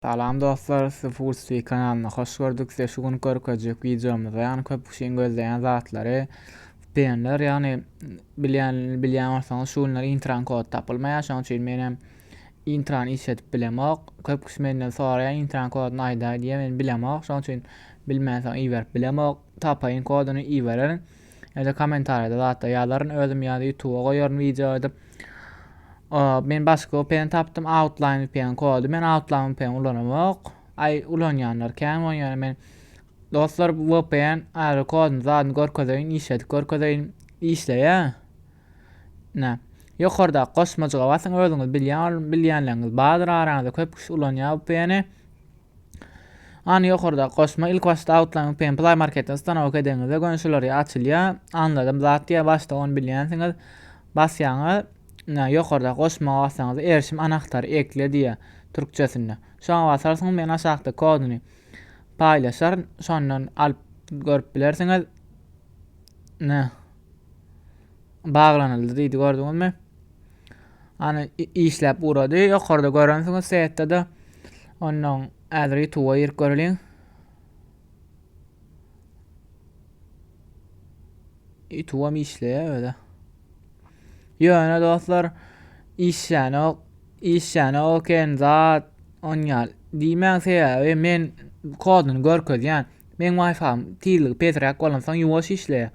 Salam dostlar sizi Foodstreet kanalynda hoş gördük size şu gün görkezjek wideomyzda ýagny köp kişiň gözleýän zatlary penler ýagny bilýän bilýän bolsaňyz şu günler intran kod tapylmaýar şonuň üçin men hem intran işledip bilemok köp kişi menden soraýar intran koduny aýdaý diýýär men bilemok şonuň üçin bilmänsoň iberip bilemok tapaýyn koduny ibererin Ýa-da kommentariýada zatda ýazaryn özüm ýa-da YouTube-a goýaryn wideo edip. Men başga VPN tapdym, Outline VPN kody. Men Outline VPN ulanamok. Ay ulanýanlar kän bolan ýöne men dostlar VPN ary kodyny zadyny görkezeýin, işledip görkezeýin. Işleýär. Ine, ýokardaky goşmajyga basyň, özüňiz bilýän ol bilýänleriňiz bardyr, araňyzda köp kişi ulanýar VPN-i. Any ýokardaky goşma ilk başda outlaryň VPN Play Marketden stanowka edeňizde göni şular ýa açylýar. Anladym zat diýär, başda ony bilýänsiňiz. Basýaňyz, ine ýokardaky goşmaga bassaňyz erişim anahtary ekle diýär türkçesinde. Şoňa basarsyňyz, men aşakda koduny paýlaşaryn, şondan alyp görüp bilersiňiz. Ine. baglanyldy diýdi gördüňizmi Ana işläp ugrady ýokarda görensiňiz setde de ondan häzir ýutuba girip göreliň ýutubam işleýär öde ýöne dostlar işlänok işlänok en zat onýal diýmäň sebäbi men koduny görkezýän meň wi-fi tizligi pesräk bolansoň ýuwaş işleýär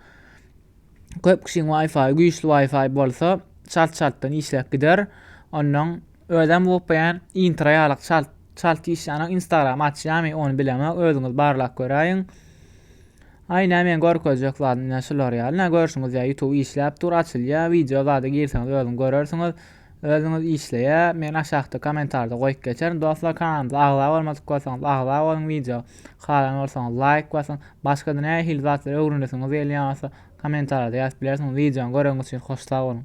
Köp kişiň Wi-Fi, güýçli Wi-Fi bolsa, çalt-çaltdan işläp gider. Ondan özem gopýan, intra ýalyk çalt çalt işlänok. Instagram açýamy, ony bilemok. Özüňiz barlap göräýiň. Aý nä men görkezjek zadym nä şular ýaly. Nä görşüňiz ýa YouTube işläp dur, açylýar. Wideo zada girseňiz özüň görersiňiz. Özüňiz işleýä men aşakda komentarda goýup geçerin dostlar kanalymyza agza bolmadyk bolsaňyz agza boluň wideo halan bolsaňyz laýk basyň başgada nähili zatlar öwrenesiňiz gelýän bolsa komentarda ýazyp bilersiňiz wideony göreňiz üçin hoş sag boluň.